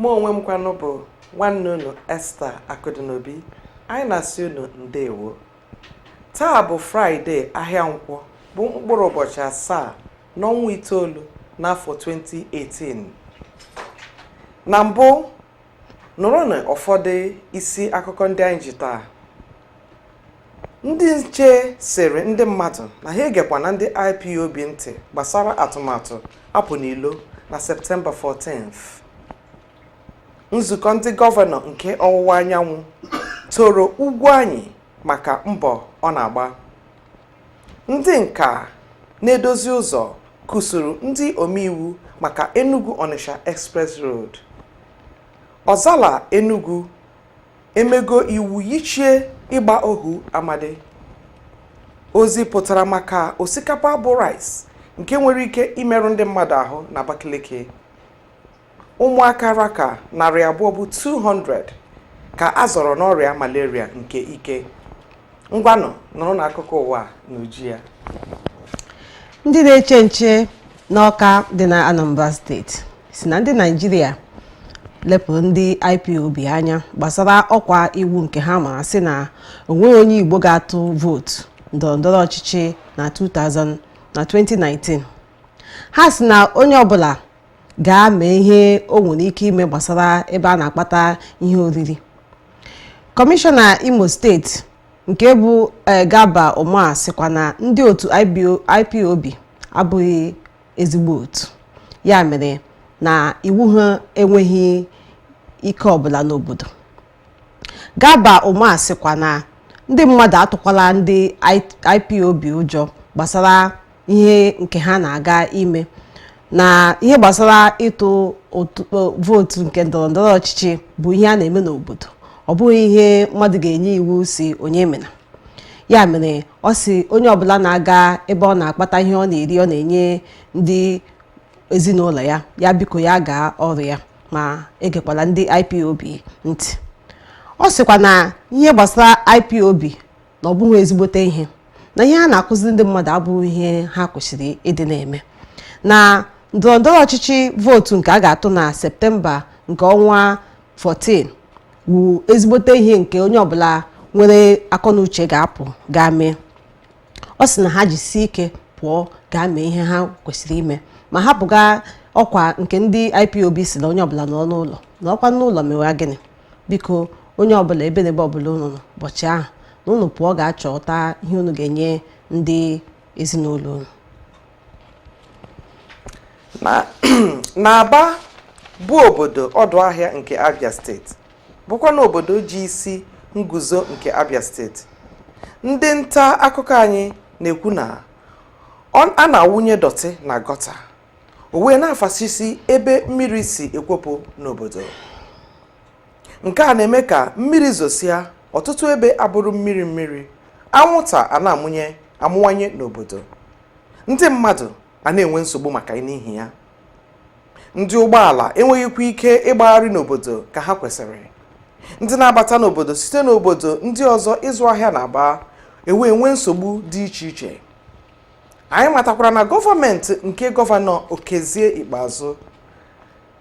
mụ onwe m kwanụ bụ nwanne unu Esther Akụdịnobi anyị na-asị unu ndewo taa bụ fraịde ahịa nkwọ bụ mkpụrụ ụbọchị asaa n'ọnwa itoolu n'afọ 2018 na mbụ nụrụnụ ụfọdụ isi akụkọ ndị anyị ji taa ndị nche sịrị ndị mmadụ na ha egekwana ndị ipob ntị gbasara atụmatụ apụ n'ilo na septemba 14th nzukọ ndị gọvanọ nke ọwụwa anyanwụ toro Ugwuanyị maka mbọ ọ na-agba ndị nka na-edozi ụzọ kụsuru ndị omeiwu maka enugu onitsha express road ọzala enugu emego iwu yichie ịgba ohu amadi ozi pụtara maka osikapa bụ rice nke nwere ike imerụ ndị mmadụ ahụ na Abakaliki ụmụaka ra ka narị abụọ bụ 200 ka a zọrọ n'ọrịa malaria nke ike ngwanụ nụrụnụ akụkọ ụwa n'uju ya ndị na-eche nche n'ọka dị na anambra steeti sị na ndị naịjirịa lepụrụ ndị ipob anya gbasara ọkwa iwu nke ha mara sị na onweghị onye igbo ga-atụ vootu ndọrọ ndọrọ ọchịchị na 2019 ha sị na onye ọbụla gaa mee ihe o nwere ike ime gbasara ebe a na-akpata ihe oriri kọmishọna imo steeti nke bụ eh, Garba Umar sịkwa na ndị otu ipob abụghị ezigbo otu ya mere na iwu ha enweghị ike ọbụla n'obodo Garba Umar sịkwa na ndị mmadụ atụkwala ndị IPOB ụjọ gbasara ihe nke ha na-aga ime na ihe gbasara ịtụ vootu nke ndọrọndọrọ ọchịchị bụ ihe a na-eme n'obodo ọ bụghị ihe mmadụ ga-enye iwu sị onye emena ya mere ọ sị onye ọbụla na-aga ebe ọ na-akpata ihe ọ na-eri ọ na-enye ndị ezinụlọ ya ya biko ya gaa ọrụ ya ma egekwala ndị IPOB ntị ọ sịkwa na ihe gbasara IPOB na ọ bụghị ezigbote ihe na ihe ha na-akụziri ndị mmadụ abụghị ihe ha kwesịrị ịdị na-eme na ndọrọndọrọ ọchịchị vootu nke a ga-atụ na septemba nke ọnwa 14 wu ezigbote ihe nke onye ọbụla nwere akọnuche ga-apụ gaa mee ọ sị na ha jisie ike pụọ gaa mee ihe ha kwesịrị ime ma hapụga ọkwa nke ndị IPOB si na onye ọbụla nọ n'ụlọ nọkwa n'ụlọ mewa gịnị biko onye ọbụla ebe na ebe ọbụla unu nọ ụbọchị ahụ na unu pụọ gaa chọta ihe unu ga-enye ndị ezinụlọ unu n'Aba bụ obodo ọdụ ahịa nke Abia steeti bụkwa na obodo ji isi nguzo nke Abia steeti ndị nta akụkọ anyị na-ekwu na a na-awụnye dọtị na gọta o wee na-afasisi ebe mmiri si ekwopụ n'obodo nke a na-eme ka mmiri zosịa ọtụtụ ebe abụrụ mmiri mmiri anwụnta a na-amụnye amụwanye n'obodo ndị mmadụ a na-enwe nsogbu maka n'ihi ya ndị ụgbọala enweghịkwa ike ịgbagharị n'obodo ka ha kwesịrị ndị na-abata n'obodo site n'obodo ndị ọzọ ịzụ ahịa n'Aba ewee nwee nsogbu dị iche iche anyị matakwara na gọọmenti nke gọvanọ Okezie Ikpeazụ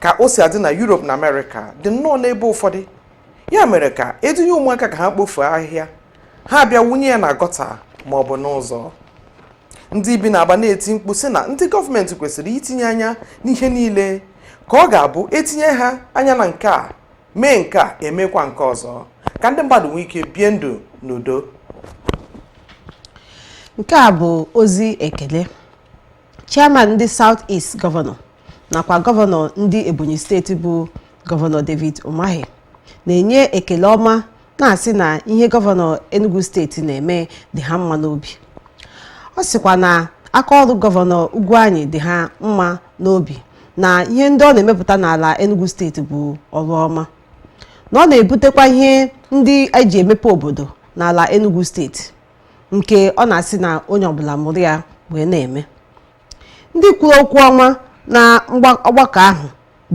ka o si adị na Europe na Amerịka dị nnọọ n'ebe ụfọdụ ya mere ka e dunye ụmụaka ka ha kpofuo ahịhịa ha abịa wụnye ya na gọta ma ọ bụ n'ụzọ ndị bi n'Aba na-eti mkpu sị na ndị gọọmenti kwesịrị itinye anya n'ihe niile ka ọ ga-abụ e tinye ha anya na nke a mee nke a emekwa nke ọzọ ka ndị mmadụ nwee ike bie ndụ n'udo nke a bụ ozi ekele chairman ndị South East gọvanọ nakwa gọvanọ ndị Ebonyi steeti bụ gọvanọ David Umahi na-enye ekele ọma na-asị na ihe gọvanọ Enugu steeti na-eme dị ha mma n'obi ọ sịkwa na aka ọrụ gọvanọ Ugwuanyi dị ha mma n'obi na ihe ndị ọ na-emepụta n'ala Enugu steeti bụ ọrụ ọma na ọ na-ebutekwa ihe ndị e ji emepe obodo n'ala Enugu steeti nke ọ na-asị na onye ọbụla mụrụ ya wee na-eme ndị kwuru okwu ọma na ọgbakọ ahụ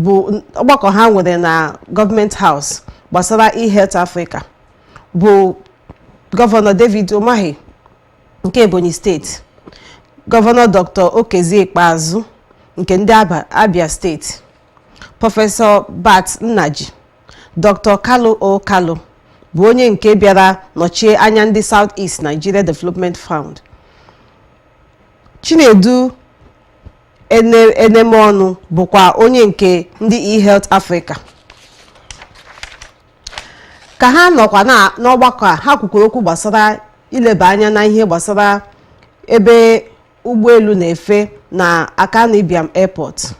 bụ ọgbakọ ha nwere na Government House gbasara e-health Africa bụ gọvanọ David Umahi nke Ebonyi steeti gọvanọ Dr. Okezie Ikpeazụ nke ndị Abia steeti prọfesọ Bart Nnaji Dr. Kalu O Kalu bụ onye nke bịara nọchie anya ndị South East Nigeria Development Fund. Chinedu Enemeọnụ bụkwa onye nke ndị eHealth Africa. Ka ha nọkwa n'ọgbakọ a, ha kwukwuru okwu gbasara ileba anya na ihe gbasara ebe ụgbọelu na-efe na Akanu Ibiam Airport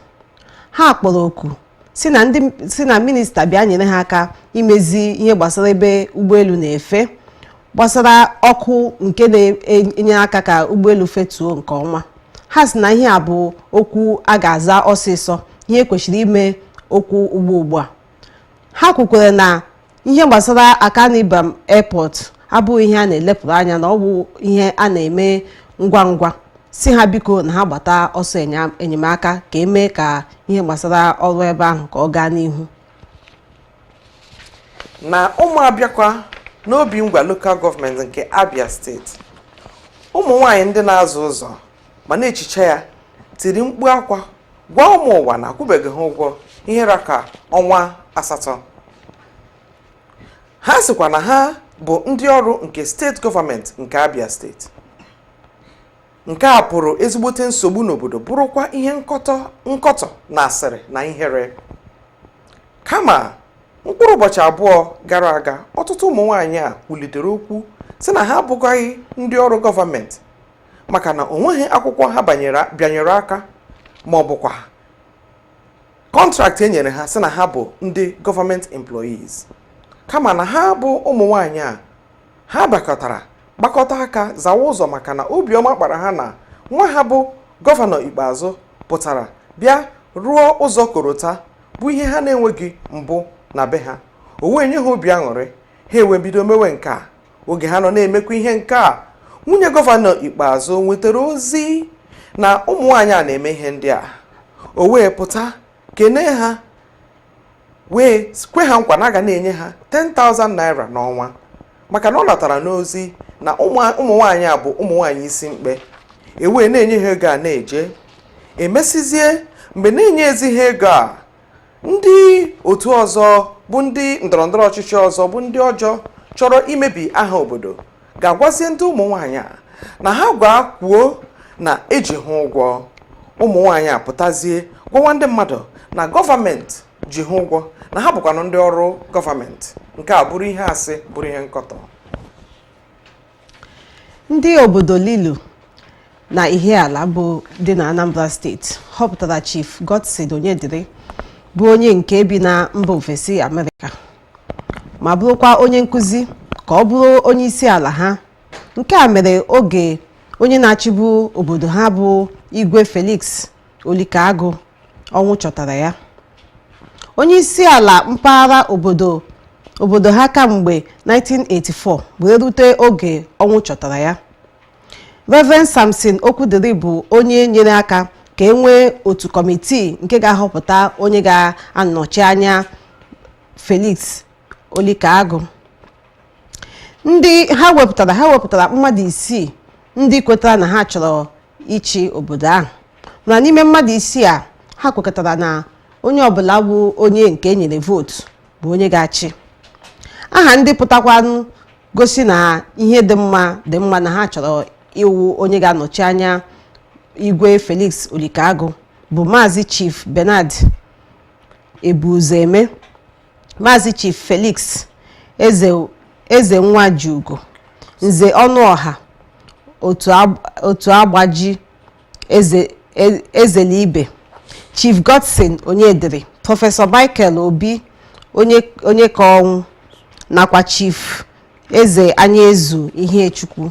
ha kpọrọ oku sị na ndị sị na minista bịa nyere ha aka imezi ihe gbasara ebe ụgbọelu na-efe gbasara ọkụ nke na-enye aka ka ụgbọelu fetuo nke ọma ha sị na ihe a bụ okwu a ga-aza ọsịsọ ihe kwesịrị ime okwu ugbu ugbu a ha kwukwara na ihe gbasara akanu ibiam airport abụghị ihe a na-elepụrụ anya na ọ bụ ihe a na-eme ngwa ngwa sị ha biko na ha gbata ọsọ enya- enyemaka ka emee ka ihe gbasara ọrụ ebe ahụ ka ọ gaa n'ihu na ụmụobiakwa n'obingwa lokal gọọmenti nke abia steeti ụmụ nwanyị ndị na-aza ụzọ ma na-echicha ya tiri mkpu akwa gwa ụmụ ụwa na a kwụbeghị ha ụgwọ ihe ra ka ọnwa asatọ ha sịkwa na ha bụ ndị ọrụ nke steeti gọọmenti nke abia steeti nke a bụrụ ezigbote nsogbu n'obodo bụrụkwa ihe nkọtọ nkọtọ na asịrị na ihere kama mkpụrụ ụbọchị abụọ gara aga ọtụtụ ụmụ nwaanyị a kwulitere okwu sị na ha abụghị ndị ọrụ gọọmenti maka na o nweghị akwụkwọ ha bịanyere aka ma ọ bụkwa kọntraktị e nyere ha sị na ha bụ ndị gọọmenti employees kama na ha bụ ụmụ nwanyị a ha bakọtara gbakọta aka zawa ụzọ maka na obiọma kpara ha na nwa ha bụ gọvanọ ikpeazụ pụtara bịa rụọ ụzọ korota bụ ihe ha na-enweghị mbụ na be ha o wee nye ha obi aṅụrị ha ewee bido mewe nke a oge ha nọ na-emekwa ihe nke a nwunye gọvanọ ikpeazụ nwetara ozi na ụmụ nwaanyị a na-eme ihe ndị a o wee pụta kene ha wee kwe ha nkwa na a ga na-enye ha 10,000 naira n'ọnwa maka na ọ natara n'ozi na ụmụ nwaanyị a bụ ụmụ nwaanyị isi mkpe ewee na-enye ha ego a na-eje e mesịzie mgbe na-enyezi ha ego a ndị otu ọzọ bụ ndị ndọrọndọrọ ọchịchị ọzọ bụ ndị ọjọọ chọrọ imebi aha obodo gaa gwazie ndị ụmụ nwaanyị a na ha gwa kwuo na e ji ha ụgwọ ụmụ nwaanyị a pụtazie gwawa ndị mmadụ na gọọmenti ji ha ụgwọ na ha bụkwanụ ndị ọrụ gọọmenti nke a bụrụ ihe asị bụrụ ihe nkọtọ ndị obodo lilu na ihiala bụ dị na anambra steeti họpụtara chief godson onyedịrị bụ onye nke bi na mba ofesi amerịka ma bụrụkwa onye nkụzi ka ọ bụrụ onye isi ala ha nke a mere oge onye na-achịbu obodo ha bụ igwe felix olikagụ ọnwụ chọtara ya onye isi ala mpaghara obodo obodo ha kamgbe 1984 wee rute oge ọnwụ chọtara ya Reverend Samson Okwudiri bụ onye nyere aka ka e nwee otu kọmitii nke ga-ahọpụta onye ga-anọchi anya Felix Olikaagụ ndị ha wepụtara ha wepụtara mmadụ isii ndị kwetara na ha chọrọ ịchị obodo ahụ mana n'ime mmadụ isii a ha kwekọtara na onye ọbụla bụ onye nke e nyere vootu bụ onye ga-achị aha ndị pụtakwanụ gosi na ihe dị mma dị mma na ha chọrọ ịwụ onye ga-anọchi anya igwe Felix Olikaagụ bụ maazị Chief Bernard Ebuzoeme Maazị Chief Felix Eze Eze Nwajiugo Nze Ọnụọha otu agb- otu agbaji eze e- ezelibe Chief Godson Onyediri Prọfesọ Michael Obi onye Onyekaọnwụ nakwa Chief Eze Anyaezu Ihechukwu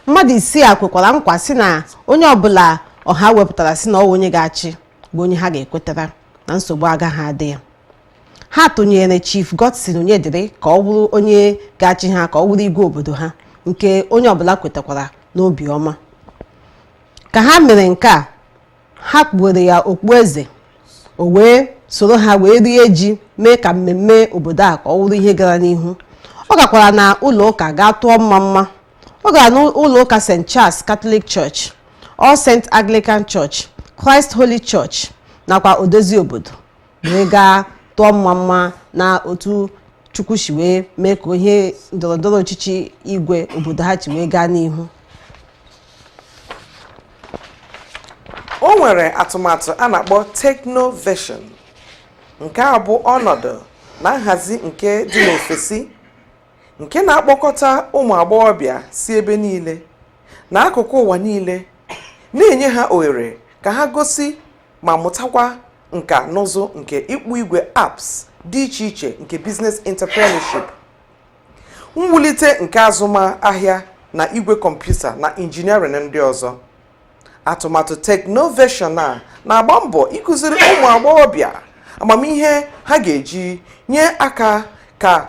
mmadụ isii a kwekwara nkwa sị na onye ọbụla ọha wepụtara sị na ọ wụ onye ga-achị bụ onye ha ga-ekwetara na nsogbu agaghị adị ya ha tụnyere chief Godson Onyediri ka ọ wụrụ onye ga-achị ha ka ọ wụrụ igwe obodo ha nke onye ọbụla kwetakwara n'obi ọma ka ha mere nke a ha kpuwere ya okpueze o wee soro ha wee rie ji mee ka mmemme obodo a ka ọ wụrụ ihe gara n'ihu ọ gakwara na ụlọ ụka gaa tụọ mma mma ọ gara n'ụlọ ụka st charles catholic church all saint anglican church christ holy church nakwa odozi obodo wee gaa tụọ mma mma na otu chukwu si wee mee ka ihe ndọrọndọrọ ọchịchị igwe obodo ha ji wee gaa n'ihu o nwere atụmatụ a na-akpọ technovation nke a bụ ọnọdụ na nhazi nke dị n'ofesi nke na-akpọkọta ụmụ agbọghọbịa si ebe niile na akụkụ ụwa niile na-enye ha ohere ka ha gosi ma mụtakwa nka n'ụzụ nke ịkpụ igwe apps dị iche iche nke business entrepreneurship mwulite nke azụmahịa na igwe kọmputa na injiniarịn ndị ọzọ atụmatụ technovation a na-agba mbọ ịkụziri ụmụ agbọghọbịa amamihe ha ga-eji nye aka ka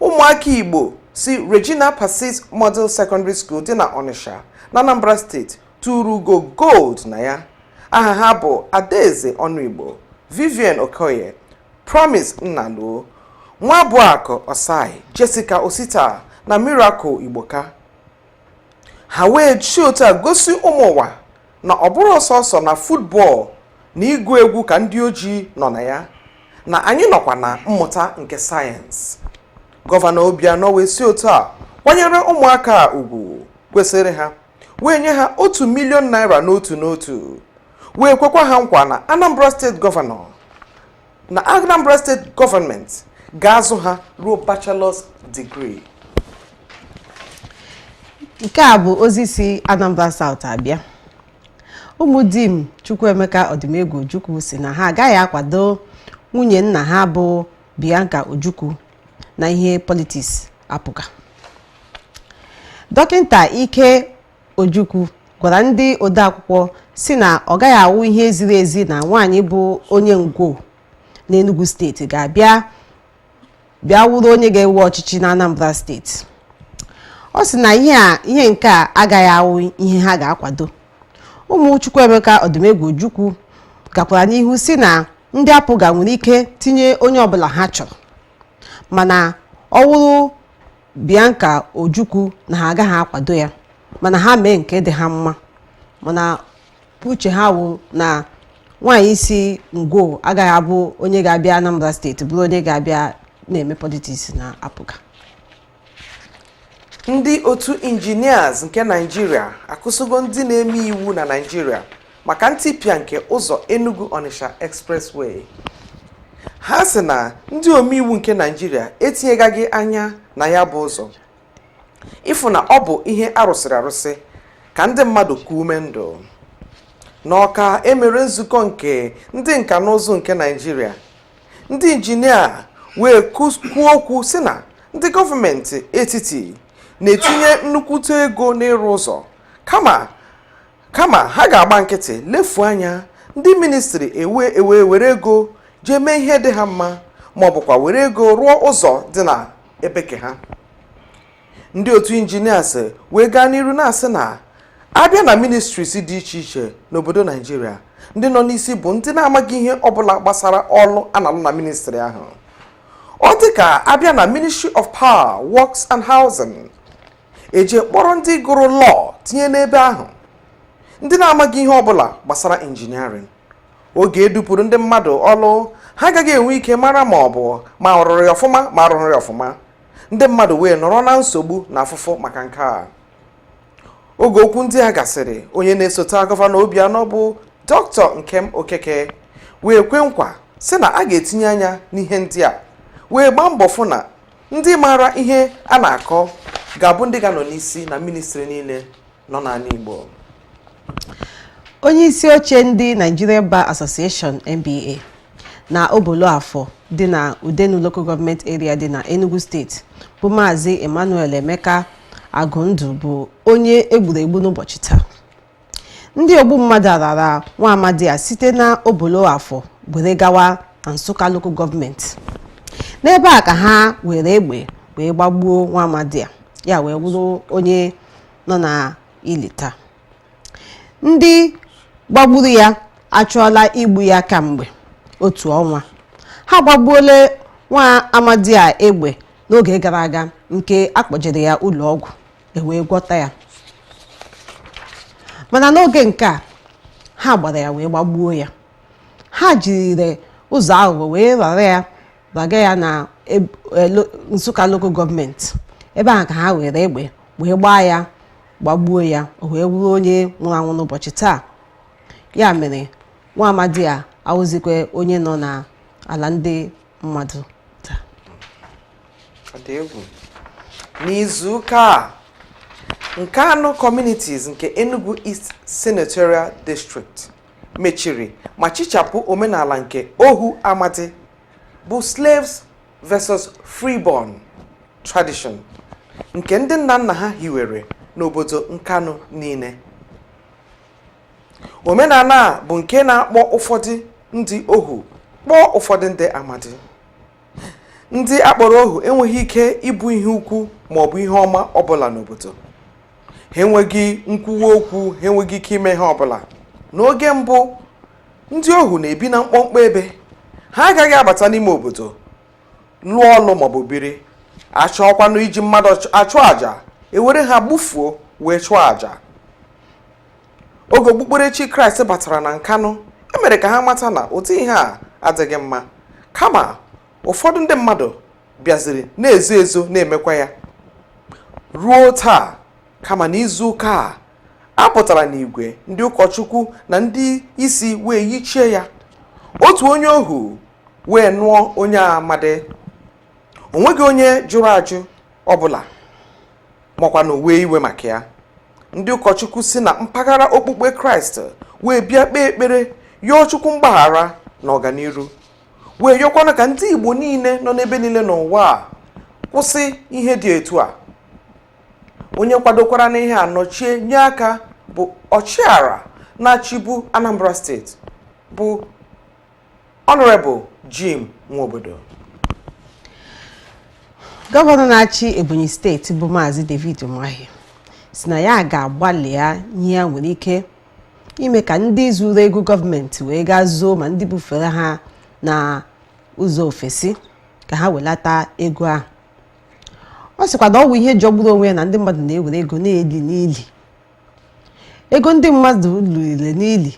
ụmụaka igbo si regina pacis model secondary school dị na ọnịsha na anambra state turu ugo gold na ya aha ha bụ adaeze ọnụigbo vivian okoye promise nnaluo nwabụakụ ossai jessica osita na miracle igboka ha wee si otu a gosi ụmụ ụwa na ọ bụrọ sọsọ na futbọl na ịgụ egwu ka ndị ojii nọ na ya na anyị nọkwa na mmụta nke sayensị gọvanọ Obianọ wee si otu a kwanyere ụmụaka a ugwu kwesịrị ha wee nye ha otu milion naira n'otu n'otu wee kwekwa ha nkwa na Anambra steeti gọvanọ na Anambra steeti gọọmenti ga-azụ ha ruo bachelor's degree nke a bụ ozi si Anambra South abịa ụmụ Dim Chukwuemeka Odumegwu Ojukwu sị na ha agaghị akwado nwunye nna ha bụ Bianca Ojukwu na ihe politiks APGA dọkịta Ike Ojukwu gwara ndị odeakwụkwọ sị na ọ gaghị awụ ihe ziri ezi na nwaanyị bụ onye Ngwo n'Enugu steeti ga-abịa wụrụ onye ga-ewe ọchịchị na Anambra steeti ọ sị na ihe nke a agaghị awụ ihe ha ga-akwado ụmụ Chukwuemeka Odumegwu Ojukwu gakwara n'ihu sị na ndị APGA nwere ike tinye onye ọbụla ha chọrọ mana ọ wụrụ Bianca Ojukwu na ha agaghị akwado ya mana ha mee nke dị ha mma mana uche ha wụ na nwaanyị si Ngwo agaghị abụ onye ga-abịa Anambra steeti bụrụ onye ga-abịa na-eme politiks na APGA ndị otu injinias nke Naịjirịa akụsịgo ndị na-eme iwu na Naịjirịa maka ntipịa nke ụzọ Enugu Onitsha Expressway ha sị na ndị omeiwu nke Naịjirịa etinyegaghị anya na ya bụ ụzọ ịfụ na ọ bụ ihe a rụsịrị arụsị ka ndị mmadụ kuo ume ndụ n'Ọka e mere nzukọ nke ndị nka na ụzụ nke Naịjirịa ndị injinia wee kus- kwuo okwu sị na ndị gọọmenti etiti na-etinye nnukwute ego n'ịrụ ụzọ kama kama ha ga-agba nkịtị lefuo anya ndị ministri ewe ewe were ego jee mee ihe dị ha mma ma ọ bụkwa were ego rụọ ụzọ dị na ebe ke ha ndị otu injinias wee gaa n'iru na-asị na a bịa na ministries dị iche iche n'obodo Naịjirịa ndị nọ n'isi bụ ndị na-amaghị ihe ọbụla gbasara ọlụ a na-alụ na ministri ahụ ọ dị ka a bịa na ministry of power works and housing e jee kpọrọ ndị gụrụ law tinye n'ebe ahụ ndị na-amaghị ihe ọbụla gbasara injiniarịn oge e dupụrụ ndị mmadụ ọlụ ha agaghị enwe ike mara ma ọ bụ ma a rụrụ ya ọfụma ma a rụrọ ya ọfụma ndị mmadụ wee nọrọ na nsogbu na afụfụ maka nke a oge okwu ndị a gasịrị onye na-esote gọvanọ Obianọ bụ dọkịta Nkem Okeke wee kwe nkwa sị na a ga-etinye anya n'ihe ndị a wee gbaa mbọ fụ na ndị maara ihe a na-akọ ga-abụ ndị ga-anọ n'isi na ministri niile nọ n'ala Igbo onye isi oche ndị Nigeria Bar Association NBA na Oboloafọ dị na Udenu Local Government Area dị na Enugu steeti bụ Maazị Emmanuel Emeka Agụndụ bụ onye e gburu egbu n'ụbọchị taa ndị ogbu mmadụ a rara nwa amadi a site na obolo afọ were gawa na nsụka Local Government n'ebe a ka ha were egbe wee gbagbuo nwa amadi a ya wee wụrụ onye nọ na ili taa ndị gbagburu ya achọọla igbu ya kamgbe otu ọnwa ha gbagbuola nwa amadi a egbe n'oge gara aga nke akpọjere ya ụlọ ọgwụ ewee gwọta ya mana n'oge nke a ha gbara ya wee gbagbuo ya ha jiri ụzọ aghụghọ wee rara ya raga ya na e, Nsụka Local Government ebe ahụ ka ha were egbe wee gbaa ya gbagbuo ya o wee wụrụ onye nwụrụ anwụ n'ụbọchị taa ya mere nwa amadi a awụzikwa onye nọ n'ala ndị mmadụ n'izuụka a Nkanu communities nke Enugu East Senatorial District mechiri ma chichapụ omenala nke ohu amadi bụ slaves versus freeborn tradition nke ndị nna nna ha hiwere n'obodo Nkanu niile omenala a bụ nke na-akpọ ụfọdụ ndị ohu kpọọ ụfọdụ ndị amadi ndị akpọrọ ohu enweghị ike ịbụ ihe ukwu ma ọ bụ ihe ọma ọbụla n'obodo ha enweghị nkwuwa okwu ha enweghị ike ime ihe ọbụla n'oge mbụ ndị ohu na-ebi na mkpọmkpọ ebe ha agaghị abata n'ime obodo lụọ ọlụ maọbụ biri achọọkwanụ iji mmadụ achụ àjà ewere ha gbufuo wee chụọ àjà oge okpukperechi kraịst batara na Nkanu emere ka ha mata na ụdị ihe a adịghị mma kama ụfọdụ ndị mmadụ bịaziri na-ezo ezo na-emekwa ya ruo taa kama na izu ụka a a pụtara n'igwe ndị ụkọchukwu na ndị isi wee yichie ya otu onye ohu wee nụọ onye amadi onweghị onye jụrụ ajụ ọbụla makwanụ wee iwe maka ya ndị ụkọchukwu si na mpaghara okpukpe kraịst wee bịa kpee ekpere yọọ chukwu mgbaghara na ọganiru wee yọkwanụ ka ndị igbo niile nọ n'ebe niile n'ụwa a kwụsị ihe dị etu a onye kwadokwara n'ihe a nọchie nye aka bụ ọchịagha na-achịbu anambra steeti bụ Honorable Jim Nwobodo gọvanọ na-achị ebonyi steeti bụ maazị david umahi si na ya ga-agbalịa ihe ya nwere ike ime ka ndị zuru ego gọọmenti wee gaa zoo ma ndị bufere ha na ụzọ ofesi ka ha welata ego ahụ ọ sịkwa na ọ bụ ihe jọgburu onwe ya na ndị mmadụ na-ewere ego na-eli n'ili ego ndị mmadụ liri n'ili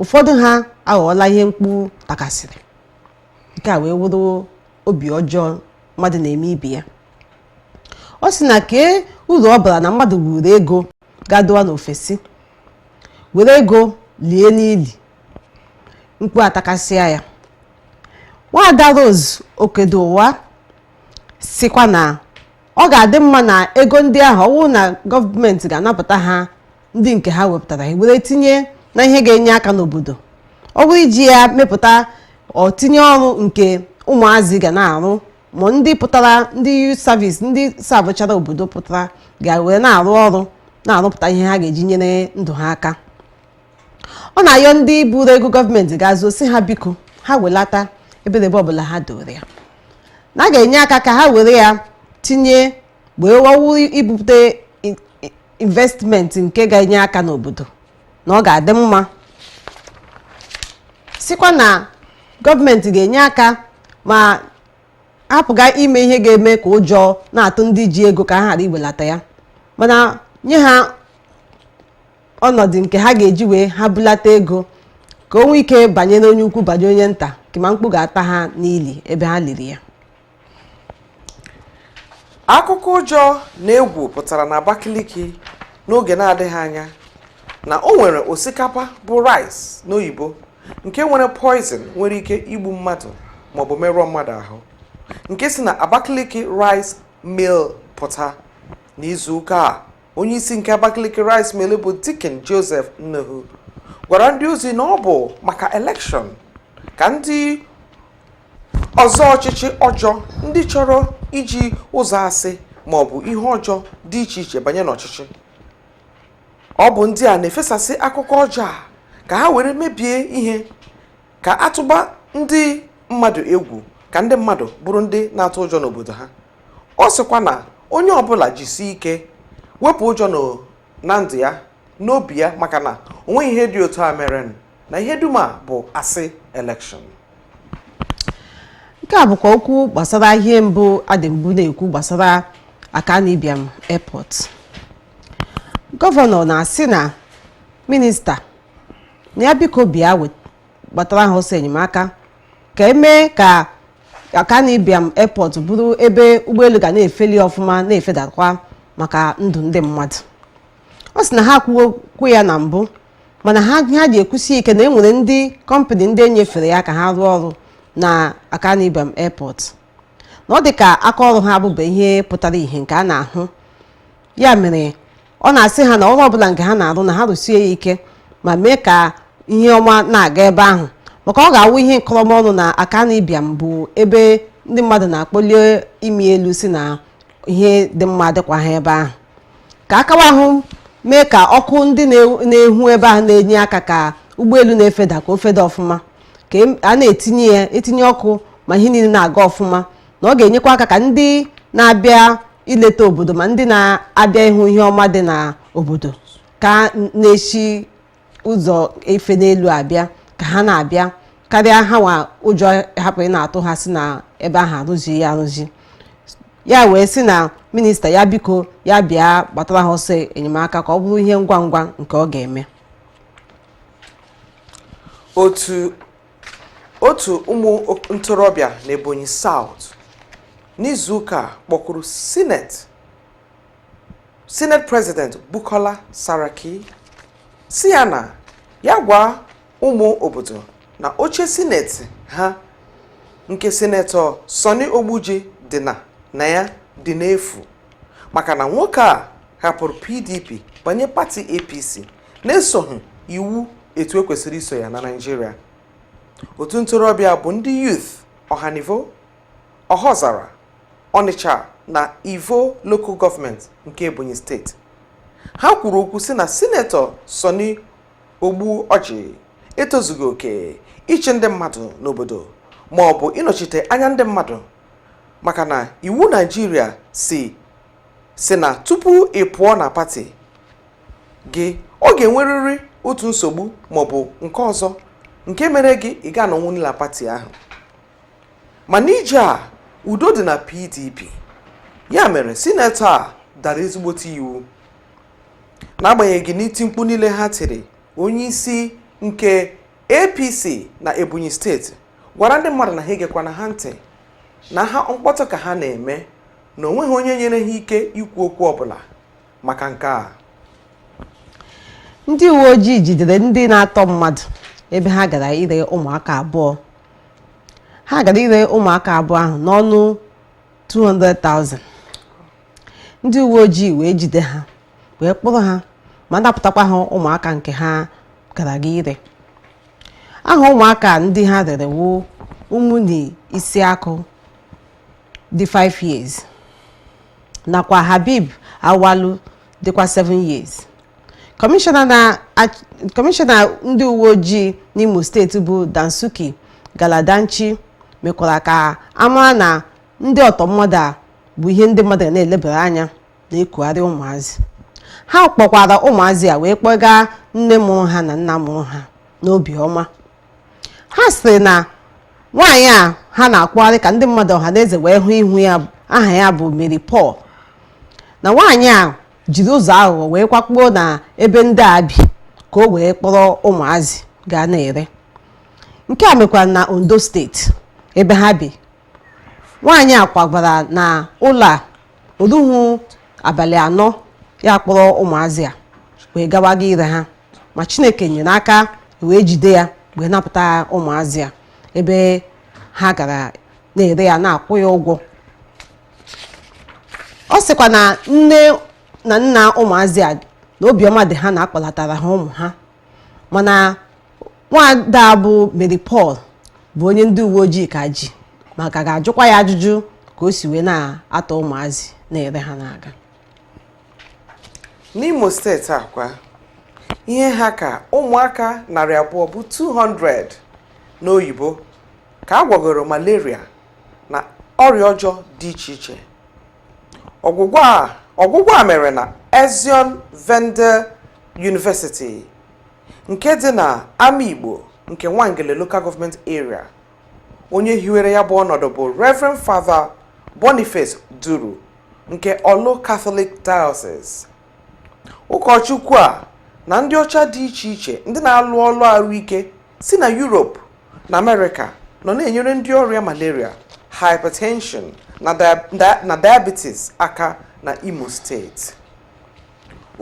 ụfọdụ ha aghọọla ihe mkpu takasịrị nke a wee wụrụ obi ọjọọ mmadụ na-eme ibe ya ọ sị na kee uru ọ bara na mmadụ buru ego gaa dowa n'ofesi were ego lie n'ili mkpu atakasịa ya nwaada Rose Okedowa sikwa na ọ ga-adị mma na ego ndị ahụ ọ wụrụ na gọọmenti ga-anapụta ha ndị nke ha wepụtara were tinye na ihe ga-enye aka n'obodo ọ bụrụ iji ya mepụta ọtinye ọrụ nke ụmụazị ga na-arụ ma ndị pụtara ndị youth service ndị savụchara obodo pụtara ga-were na-arụ ọrụ na-arụpụta ihe ha ga-eji nyere ndụ ha aka ọ na-ayọ ndị buru ego gọọmenti gaa zoo si ha biko ha welata ebedebe ọbụla ha dowere ya na a ga-enye aka ka ha were ya tinye wee wawu ibute investmenti nke ga-enye aka n'obodo na ọ ga-adị mma sikwa na gọọmenti ga-enye aka ma hapụga ime ihe ga-eme ka ụjọ na-atụ ndị ji ego ka ha ghara iwelata ya mana nye ha ọnọdụ nke ha ga-eji wee ha bulata ego ka o nwee ike banyere onye ukwu banye onye nta kama mkpu ga-ata ha n'ili ebe ha liri ya akụkọ ụjọ na egwu pụtara na Abakaliki n'oge na-adịghị anya na o nwere osikapa bụ rice n'oyibo nke nwere poison nwere ike igbu mmadụ maọbụ merụọ mmadụ ahụ nke si na Abakaliki rice mill pụta n'izu ụka a onye isi nke Abakaliki Rice Mill bụ Deacon Joseph Ununu gwara ndị ozi na ọ bụ maka elekshọn ka ndị ọzọ ọchịchị ọjọọ ndị chọrọ iji ụzọ asị ma ọ bụ ihe ọjọọ dị iche iche banye n'ọchịchị ọ bụ ndị a na-efesasị akụkọ ọjọọ a ka ha were mebie ihe ka a tụba ndị mmadụ egwu ka ndị mmadụ bụrụ ndị na-atụ ụjọ n'obodo ha ọ sịkwa na onye ọbụla jisie ike wepụ ụjọ na ndụ ya n'obi ya maka na onweghị ihe dị otu a mere na ihe dum a bụ asị elekshọn nke a bụkwa okwu gbasara ihe mbụ a dị mbụ na-ekwu gbasara Akanu Ibiam airport gọvanọ na-asị na minista na ya biko bịa wet- gbatara ha ọsọ enyemaka ka e mee ka Akanu Ibiam Airport bụrụ ebe ụgbọelu ga na-efeli ọfụma na-efedakwa maka ndụ ndị mmadụ ọ sị na ha kwuo okwu ya na mbụ mana ha ha ji ekwusi ike na e nwere ndị kọmpanị ndị e nyefere ya ka ha rụọ ọrụ na Akanu Ibiam Airport na ọ dị ka aka ọrụ ha abụba ihe pụtara ihe nke a na-ahụ ya mere ọ na-asị ha na ọrụ ọbụla nke ha na-arụ na ha rụsie ya ike ma mee ka ihe ọma na-aga ebe ahụ maka ọ ga-awụ ihe nkọrọmọnụ na Akanu Ibiam bụ ebe ndị mmadụ na-akpọli imi elu sị na ihe dị mma adịkwaha ebe ahụ ka akawa ahụ mee ka ọkụ ndị na-ehu ebe ahụ na-enye aka ka ụgbọelu na-efeda ka o feda ọfụma ka e, a na-etinye ya etinye ọkụ ma ihe niile na-aga ọfụma na ọ ga-enyekwa aka ka ndị na-abịa ileta obodo ma ndị na-abịa ịhụ ihe ọma dị na obodo ka na-esi ụzọ efe n'elu abịa ka ha na-abịa karịa ha nwa ụjọ hapụ ịna-atụ ha sị na ebe ahụ arụzi ya arụzi ya wee sị na minista ya biko ya bịa gbatara ha ọsọ enyemaka ka ọ bụrụ ihe ngwa ngwa nke ọ ga-eme otu ụmụ ntorobịa n'Ebonyi South n'izuụka a kpọkuru sineti prezident Bukola Saraki sị ya na ya gwa ụmụ obodo na oche sineti ha nke sinetọ Sonni Ogbuoji dị na na ya dị n'efu maka na nwoke a hapụrụ PDP banye pati APC na-esoghị iwu etu e kwesịrị iso ya na Naịjirịa otu ntorobịa bụ ndị youth ọhanivo ọhaọzara ọnịcha na ivo lokal gọọmenti nke ebonyi steeti ha kwuru okwu sị na sinetọ sọni ogbuọjị etozughị oke ịchị ndị mmadụ n'obodo ma ọ bụ ịnọchite anya ndị mmadụ maka na iwu Naịjirịa sị sị na tupu ị pụọ na pati gị ọ ga-enwerịrị otu nsogbu maọbụ nke ọzọ nke mere gị ị ga anọnwu na pati ahụ mana ije a udo dị na pdp ya mere sinetọ a dara ezigbote iwu n'agbanyeghị n'iti mkpu niile ha tiri onye isi nke apc na ebonyi steeti gwara ndị mmadụ na ha egekwana ha ntị na ha mkpọtụ ka ha na-eme na o nweghị onye nyere ha ike ikwu okwu ọbụla maka nke a ndị uwe ojii jidere ndị na-atọ mmadụ ebe ha gara ire ụmụaka abụọ ha gara ire ụmụaka abụọ ahụ n'ọnụ 200,000 ndị uwe ojii wee jide ha wee kpụrụ ha ma napụtakwa ha ụmụaka nke ha gara ga ire aha ụmụaka ndị ha rere wu Umuni Isiaku dị 5 years nakwa Habib Awalu dịkwa 7 years kọmishọna ndị uwe ojii n'Imo steeti bụ Dansuki Galadanchi mekwara ka a mara na ndị ọtọ mmadụ a bụ ihe ndị mmadụ na-elebara anya na-ekugharị ụmụazị ha kpọkwara ụmụazị a wee kpọga nne mụrụ ha na nna mụrụ ha n'obiọma ha sịrị na nwaanyị a ha na-akpụgharị ka ndị mmadụ ọha na eze wee hụ ihu ya aha ya bụ Mary Paul na nwaanyị a jiri ụzọ aghụghọ wee kwakpuo na ebe ndị a bi ka o wee kpọrọ ụmụazị ga na-ere nke a mekwara na Ondo steeti ebe ha bi nwaanyị a kwagara na ụlọ a o ruhu abalị anọ ya kpọrọ ụmụazị a wee gawaga ire ha ma chineke nyere aka wee jide ya wee napụta ụmụazị a ebe ha gara na-ere ya na-akwụ ya ụgwọ ọ sịkwa na nne na nna ụmụazị a na obiọma dị ha na a kpọlatara ha ụmụ ha mana nwaada a bụ Mary Paul bụ onye ndị uwe ojii ka ji ma ka ga-ajụkwa ya ajụjụ ka o si wee na-atọ ụmụazị na-ere ha na-aga N'Imo steeti a kwa ihe ha ka ụmụaka narị abụọ bụ 200 n'oyibo ka a gwọgoro malaria na ọrịa ọjọọ dị iche iche ọgwụgwọ a ọgwụgwọ a mere na Azione Verde University nke dị na Amaigbo nke Nwangele Local Government Area onye hiwere ya bụ ọnọdụ bụ Reverend Father Boniface Duru nke Orlu Catholic Diocese ụkọchukwu a na ndị ọcha dị iche iche ndị na-alụ ọlụ ahụike si na Europe na Amerịka nọ na-enyere ndị ọrịa malaria hypertension na dia- na diabetes aka na Imo steeti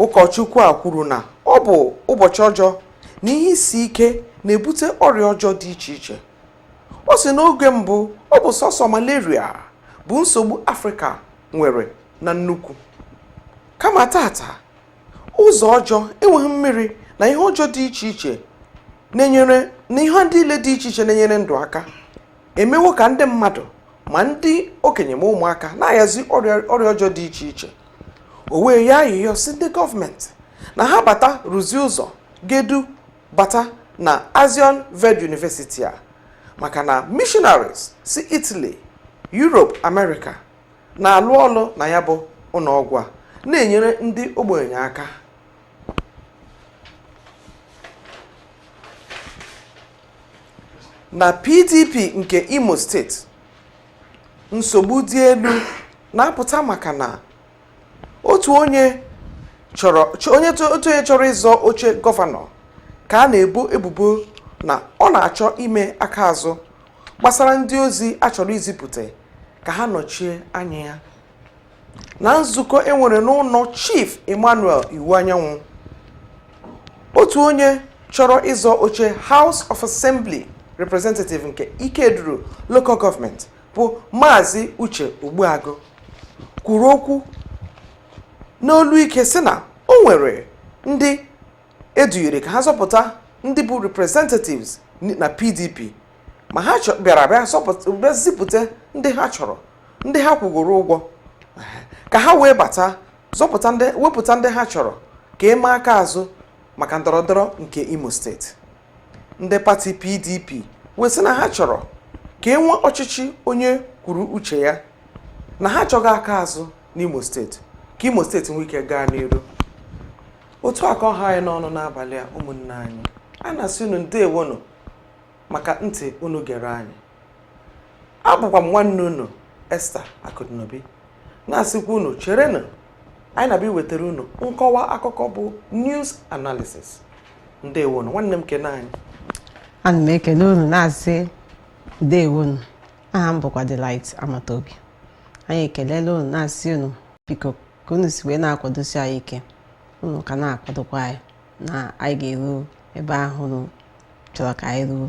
ụkọchukwu a kwuru na ọ bụ ụbọchị ọjọọ na ihe isi ike na-ebute ọrịa ọjọọ dị iche iche ọ sị n'oge mbụ ọ bụ sọsọ malaria bụ nsogbu afrịka nwere na nnukwu kama taata ụzọ ọjọọ enweghị mmiri na ihe ọjọọ dị iche iche na-enyere na ihe niile dị iche iche na-enyere ndụ aka emewo ka ndị mmadụ ma ndị okenye ma ụmụaka na-ayazi ọrịa ọjọọ dị iche iche o wee yọọ ayịyọ sị ndị gọọmenti na ha bata rụzie ụzọ ga-edu bata na azion ved university a maka na missionaries si italy europe america na-alụ ọlụ na ya bụ ụlọọgwụ a na-enyere ndị ogbenye aka na pdp nke imo steeti nsogbu dị elu na-apụta maka na otu onye chọrọ ch- onye to- otu onye chọrọ ịzọ oche gọvanọ ka a na-ebo ebubo na ọ na-achọ ime aka azụ gbasara ndị ozi a chọrọ izipụta ka ha nọchie anya ya na nzukọ e nwere n'ụlọ chief emmanuel iwuanyanwụ otu onye chọrọ ịzọ oche house of assembly representative nke ikeduru local government bụ maazị uche ogbuagụ kwuru okwu n'olu ike sị na o nwere ndị e dunyere ka ha zọpụta ndị bụ representatives na pdp ma ha chọ- bịara bịa zọpụta- bịa zipụta ndị ha chọrọ ndị ha kwụgoro ụgwọ ka ha wee bata zọpụta ndị wepụta ndị ha chọrọ ka e mee aka azụ maka ndọrọndọrọ nke imo steeti ndị pati pdp wee sị na ha chọrọ ka e nwee ọchịchị onye kwuru uche ya na ha achọghị aka azụ n'imo steeti ka imo steeti nwee ike gaa n'iru otu a ka ọ ha anyị n'ọnụ n'abalị a ụmụnne anyị a na-asị unu ndewonụ maka ntị unu gere anyị abụkwa m nwanne unu Esther Akụdịnobi na-asịkwa unu cherenụ anyị na-abịa iwetara unu nkọwa akụkọ bụ news analysis ndewonụ nwanne m nke nwaanyị ana m ekele unu na-asị ndewonụ aha m bụkwa Delight Amatobi anyị ekelela unu na-asị unu biko ka unu si wee na-akwadosi anyị ike unu ka na-akwadokwa anyị na anyị ga-eru ebe ahụ unu chọrọ ka anyị ruo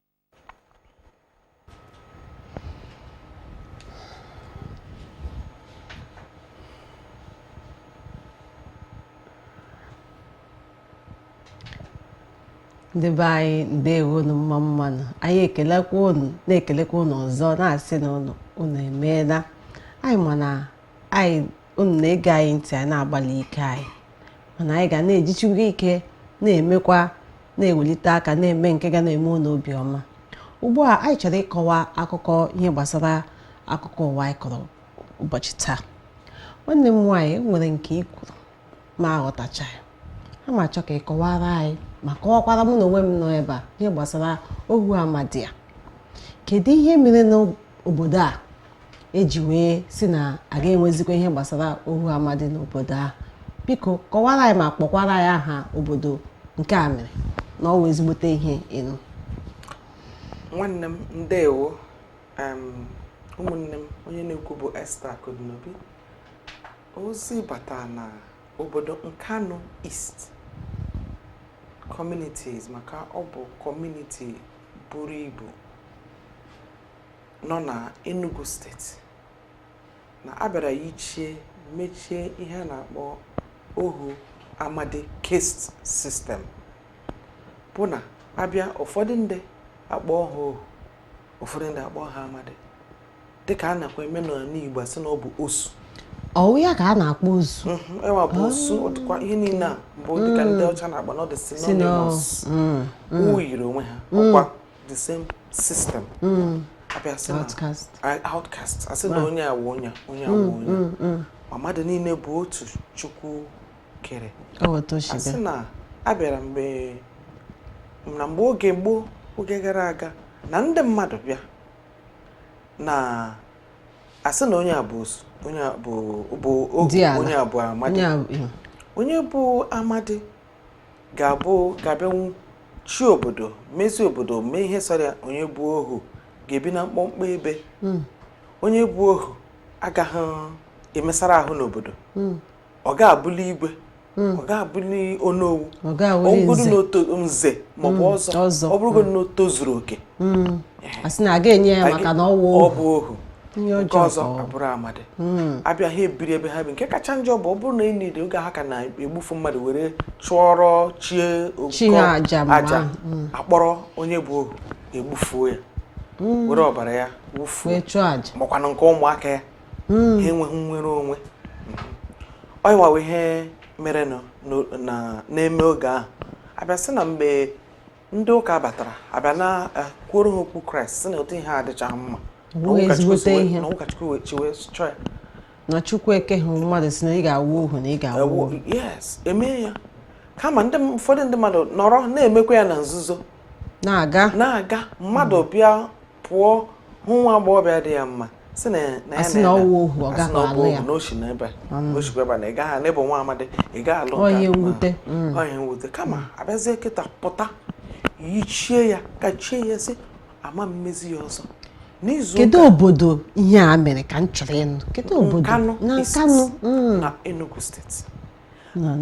ndị be anyị ndewo unu mma mmanụ anyị ekelekwa unu na-ekelekwa unu ọzọ na-asị na unu unu emeela anyị ma na anyị unu na-ege anyị ntị anyị na-agbalị ike anyị mana anyị ga na-ejichikwa ike na-emekwa na-ewelite aka na-eme nke ga na-eme unu obiọma ugbu a anyị chọrọ ịkọwa akụkọ ihe gbasara akụkọ ụwa anyị kọrọ ụbọchị taa nwanne m nwaanyị e nwere nke ị kwuru m aghọtachaghị a ma achọ ka ị kọwara anyị ma kọwakwara mụ na onwe m nọ ebe a ihe gbasara ohu amadi a kedu ihe mere n'obodo a e ji wee sị na a ga-enwezikwa ihe gbasara ohu amadi n'obodo ahụ biko kọwara anyị ma kpọkwara anyị aha obodo nke a mere na ọ wụ ezigbote ihe ịnụ nwanne m ndewo em, ụmụnne m onye na-ekwu bụ Esther Akụdịnobi ozi bata na obodo Nkanu East communities maka ọ bụ kọmuniti buru ibu nọ na Enugu steeti na a bịara yichie mechie ihe a na-akpọ ohu amadi caste system bụ na abịa ụfọdụ ndị akpọ ha ohu ụfọdụ ndị akpọ ha amadi dịka a nakwa eme n'ala Igbo asị na ọ bụ osu ọwụ ya ka a na-akpọ osu mhm, ọnwa bụ osu otukwa ihe niile a bụ dịka ndị mm. ọcha na-akpọ na ọ dị synonymous mm, mm. yiri onwe ha ọkwa the same system hmm. abịa sị na outcast asị na onye a wụ onye onye a wụ hmm, onye hmm, ma mmadụ niile bụ otu chukwu kere asị na abịara mgbe na mgbe oge gboo oge gara aga na ndị mmadụ bịa na asị na onye a bụ onye a bụ onye a bụ amadi onye bụ amadi ga-abụ ga-abịanwu chị obodo mezi obodo mee ihe sọrọ ya onye bụ ohu ga-ebi na mkpọmkpọ ebe hmm. onye bụ ohu agaghị emesara ahụ n'obodo hmm. ọ ga-abụli igwe hmm. ọ ga-abụli onowu ọ bụgodu nze maọbụ ọzọ ọ bụrụgodu na o tozuru oke hmm. a sị na a ga-enye ya maka na ọ bụ ohu nke ọzọ abụrụ amadi hmm. abịa ha ebiri ebe ha bi nke kacha njọ bụ ọ bụrụ na enyi dị oge ha ka na-egbufu mmadụ were chụọrọ chi aja hmm. akpọrọ onye bụ ohu egbufuo ya hmm. were ọbara ya chụọ aja makwanụ nke ụmụaka ya ha enweghị nnwere onwe ọnwa wụ ihe mere na-eme oge ahụ abịa sị na mgbe ndị ụka batara abịa na eh, kwuoro ha okwu kraịst sị na ụdị ihe a adịchaghị mma na chukwu ekehụ mmadụ sị na ị ga-awụ ohu na ị ga-awụ ohu yes emee ya kama ndị ụfọdụ ndị mmadụ nọrọ na-emekwa ya na nzuzo na-aga na-aga mmadụ bịa pụọ hụ nwa agbọghọbịa dị ya mma sị na na ya na ọwụ ohu ọ gaghị alụ ya na oshi na ebe mm. oshikwa ebe na ị gaghị n'ebe nwa amadi ị gaghị alụ ihe mwute mm. ihe mwute kama abịazie kịtaa pụta yichie ya kachie ya sị a ma emezi ya ọzọ kedu obodo ihe a mere ka m chọrọ ịnụ kedu obodo na nkanụ mm. na enugu steeti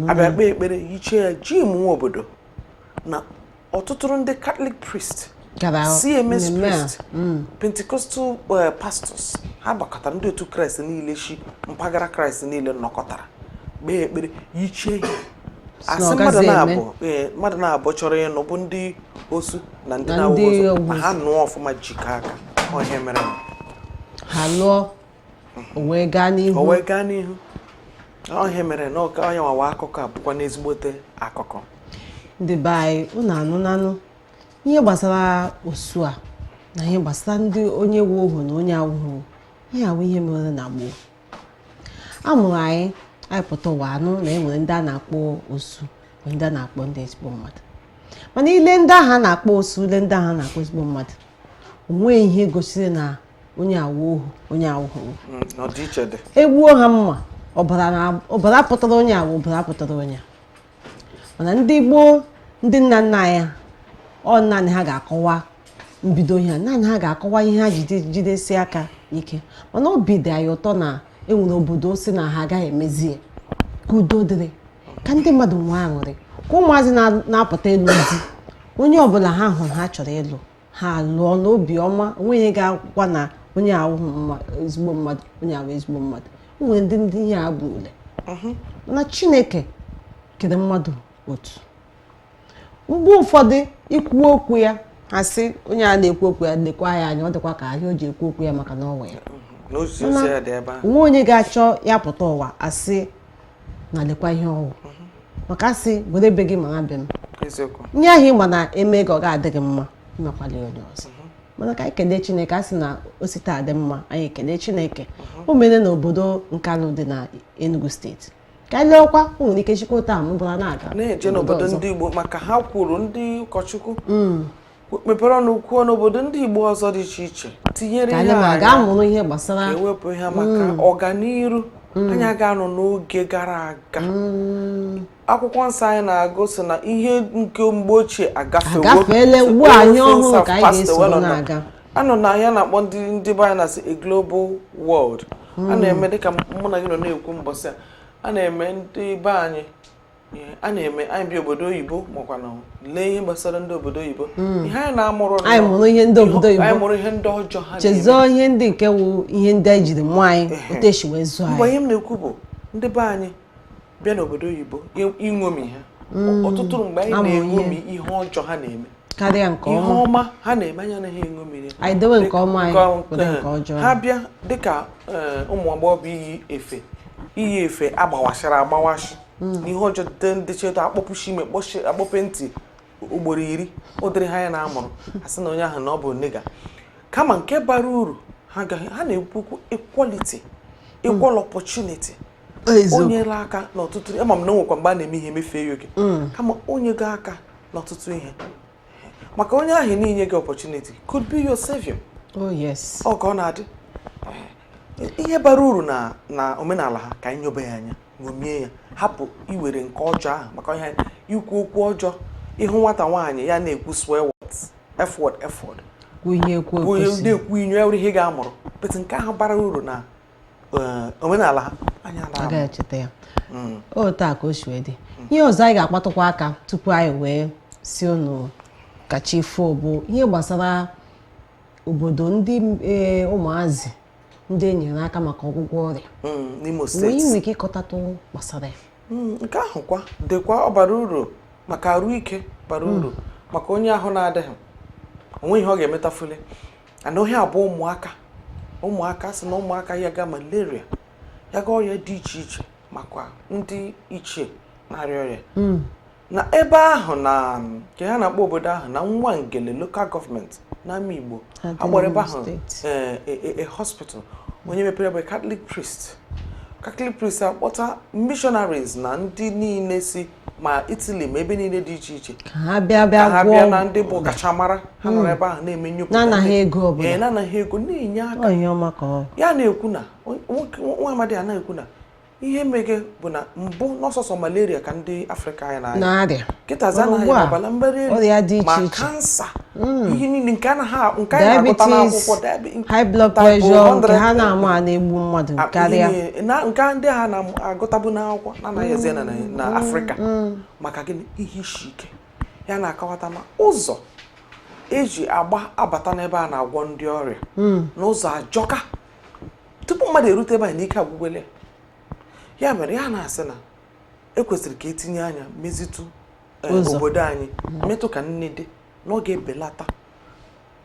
abịa kpee ekpere yichie ya ji mụnwa obodo na ọtụtụrụ ndị catholic priest cms priest mm. pentecostal eh, pastors ha gbakọtara ndị otu kraịst niile shi mpaghara kraịst niile nọkọtara kpee ekpere yichie ihe a sị eh, mmadụ naabọ chọrọ ịnụ bụ ndị osu na ndị na-awụ osu ma ha nụọ ọfụma jikọọ aka ọ ihe a mere ha lụọ o wee gaa n'ihu o wee gaa n'ihu ọ ihe a mere na ọka onye wawa akụkọ a bụkwanụ ezigbote akụkọ ndị be anyị unu anụnanụ ihe gbasara osu a na ihe gbasara ndị onye wu ohu na onye awụghị ihe a wụ ihe mere na gboo a mụrụ anyị anyị pụta ụwa anụ na enwere ndị a na-akpọ osu e nwee ndị a na-akpọ ndị ezigbo mmadụ mana i lee ndị ahụ a na-akpọ osu i lee ndị ahụ a na-akpọ ezigbo mmadụ onweghị ihe gosiri na onye a wụ ohu onye a wụ ohu mm, egbuo ha mma ọbara pụtara onye a wụ ọbara pụtara onye mana ndị gboo ndị nna nna anyị ọ naanị ha ga-akọwa mbido ihe naanị ha ga-akọwa ihe ha ji jidesie aka ike mana obi dị anyị ụtọ na enwere obodo sị na ha agaghị emezi ya ka udo dịrị ka ndị mmadụ nwee aṅụrị ka ụmụazị na-apụta ịlụ di onye ọbụla ha hụrụ ha chọrọ ịlụ ha lụọ n'obi ọma onweghị onye ga-akọkwa na onye a wụ ezigbo mmadụ onye a wụ ezigbo mmadụ nwere ndị ndị ihe a bụ ule mhm. na chineke kere mmadụ otu mgbe ụfọdụ i kwuo okwu ya ha sị onye a na-ekwu okwu ya lekwa ya anya ọ dịkwa ka ihe o ji ekwu okwu ya maka na ọ wụ ya mhm. o nwe onye ga-achọ ya pụta ụwa a sị na lekwa ihe ọ wụ mhm. maka a sị were be gị mara be m ihe ahụ ị ma na e mee gị ọ ga-adịghị mma emekwala ya onye ọzọ mhm. mana ka anyị kelee chineke a sị na o si taa dị mma anyị kelee chineke mhm. o mere na obodo nkanụ dị na enugu steeti ka anyị leekwa o nwere ike shikwa taa mụbara na-aga na-eje n'obodo ndị igbo dịka ha kwuru ndị ụkọchukwu mm. mepere ọnụ kwuo n'obodo ndị Igbo ọzọ dị iche iche tinyere ihe ga-amụrụ ihe gbasara iwepụ ihe a maka mm. ọganiru mm. anyị ga-anọ n'oge gara aga mm. akwụkwọ nsọ anyị na-agụ sị na ihe nke mgbe ochie agafewo a nọ na ihe a na-akpọ ndị ndị be anyị na-asị a global world a na-eme dịka mụ na gị nọ na-ekwu mbọsị a a na-eme ndị be anyị a na-eme anyị bi obodo oyibo makwa na lee ihe gbasara ndị obodo oyibo hmm. ihe anyị na-amụrụ anyị mụrụ ihe ndị obodo oyibo anyị mụrụ ihe ndị ọjọọ ha chezọọ ihe ndị nke wụ ihe ndị anyị jiri mụọ anyị otu e si wee zụọ anyị mgbe ihe m na-ekwu bụ ndị be anyị bịa n'obodo oyibo iṅomi ha hmm. ọtụtụ mgbe anyị na-eṅomi ihe ọjọọ ha na-eme karịa nke ọma ihe ọma ha na-eme anyị anaghị eṅomi ya anyị dewe nke ọma anyị ewere nke eh, ọjọọ ha bịa dịka eh, ụmụ agbọghọ bụ iyi efe iyi efe a gbawasịrị agbawasị hmm. ihe ọjọọ dịte ndị cheta akpọpushi imi akpọpuo ntị ugboro iri ụdịrị ha ya na-amụrụ a sị na onye ahụ na ọ bụ nigga kama nke bara uru ha na-ekwu okwu equality equal opportunity o nyere aka n'ọtụtụ ama m na e nwekwa mgbe a na-eme ihe emefee ya oke mm. kama o nyega aka n'ọtụtụ ihe maka onye ahụ na i nyeghị opportunity could be your savior oh yes ọ ka ọ na-adị ihe bara uru na omenala ha ka anyị nyobe ya anya ṅomie ya hapụ iwere nke ọjọọ ahụ maka ihe ikwu okwu ọjọọ ị hụ nwata nwaanyị ya na-ekwu swear words f word f word na-ekwu inyo ya were ihe ga-amụrụ but nke ahụ bara uru na eh, omenala ha anyị anaghị echeta ya hmm. otu a ka o si wee dị ihe ọzọ anyị ga-akpatụkwa aka tupu anyị wee sị unu ka chi fo bụ ihe gbasara obodo ndị e, ụmụazị ndị e nyere aka maka ọgwụgwọ ọrịa hmm, n'Imo steeti wee nwee ike ịkọtatụ gbasara ya hmm, nke ahụ kwa dịkwa ọ bara uru maka arụ ike bara hmm. uru maka onye ahụ na-adịghị o nwe ihe ọ ga-emetafuli and ohe abụ ụmụaka ụmụaka sị na ụmụaka yaga malaria yaga ọrịa dị iche iche makwa ndị ichie na-arịa ọrịa hmm. na ebe ahụ na nke ha na-akpọ obodo ahụ na Nwangele local government n'Amaigbo agbara ebe ahụ eh, eh, eh, hospital onye mepere bụ Catholic priest Catholic priest akpọta missionaries na ndị niile si ma Italy ma ebe niile dị iche iche ka ha bịa na ndị bụ ọkachamara ha nọrọ hmm. ebe ahụ na-eme nnyopụta na-anaghị ego na-enye aka ya na-ekwu na nwa amadị a na-ekwu na ihe mege bụ na mbụ na ọ sọsọ malaria ka ndị afrịka anyị na-arịa kịtazi a na-ahụ ọbara mgbali elu ma kansa hmm. ihe niile nke anaghị nke anyị na-agụta n'akwụkwọ high blood pressure nke ha na-ama a na-egbu mmadụ karịa nke ndị ha na-agụtabu n'akwụkwọ na-anaghị eze na hmm. afrịka hmm. maka gịnị ihe isi ike ya na-akọwata ma ụzọ e ji agba abata n'ebe a na-agwọ ndị ọrịa na ụzọ ajọka tupu mmadụ erute ebe a na ike agwụgwole ya mere ya na-asị na e kwesịrị ka e tinye anya mezitụ eh, obodo anyị mm-hmm. metụ ka nne dị na ọ ga-ebelata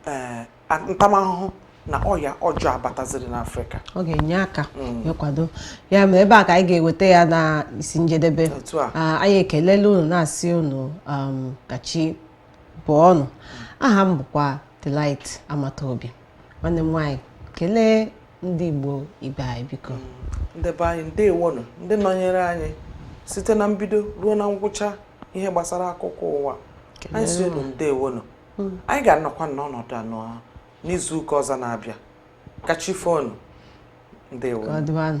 eh, ntamahụhụ na ọya ọjọọ abataziri n'Afrịka ọ ga-enye aka mm. ịkwado ya mere ebe a ka anyị ga-eweta ya na isi njedebe ah, anyị ekelela unu na-asị unu um, ka chi bọọ nụ aha m bụkwa Delight Amataobi nwanne m nwaanyị kelee ndị Igbo ibe anyị biko ndị be anyị ndewonụ ndị nọnyere anyị site na mbido ruo na ngwụcha ihe gbasara akụkọ ụwa anyị sị unu ndewonụ hmm. anyị ga-anọkwa n'ọnọdụ anụwa n'izu ụka ọzọ na-abịa ka chi foo nụ ndewonụ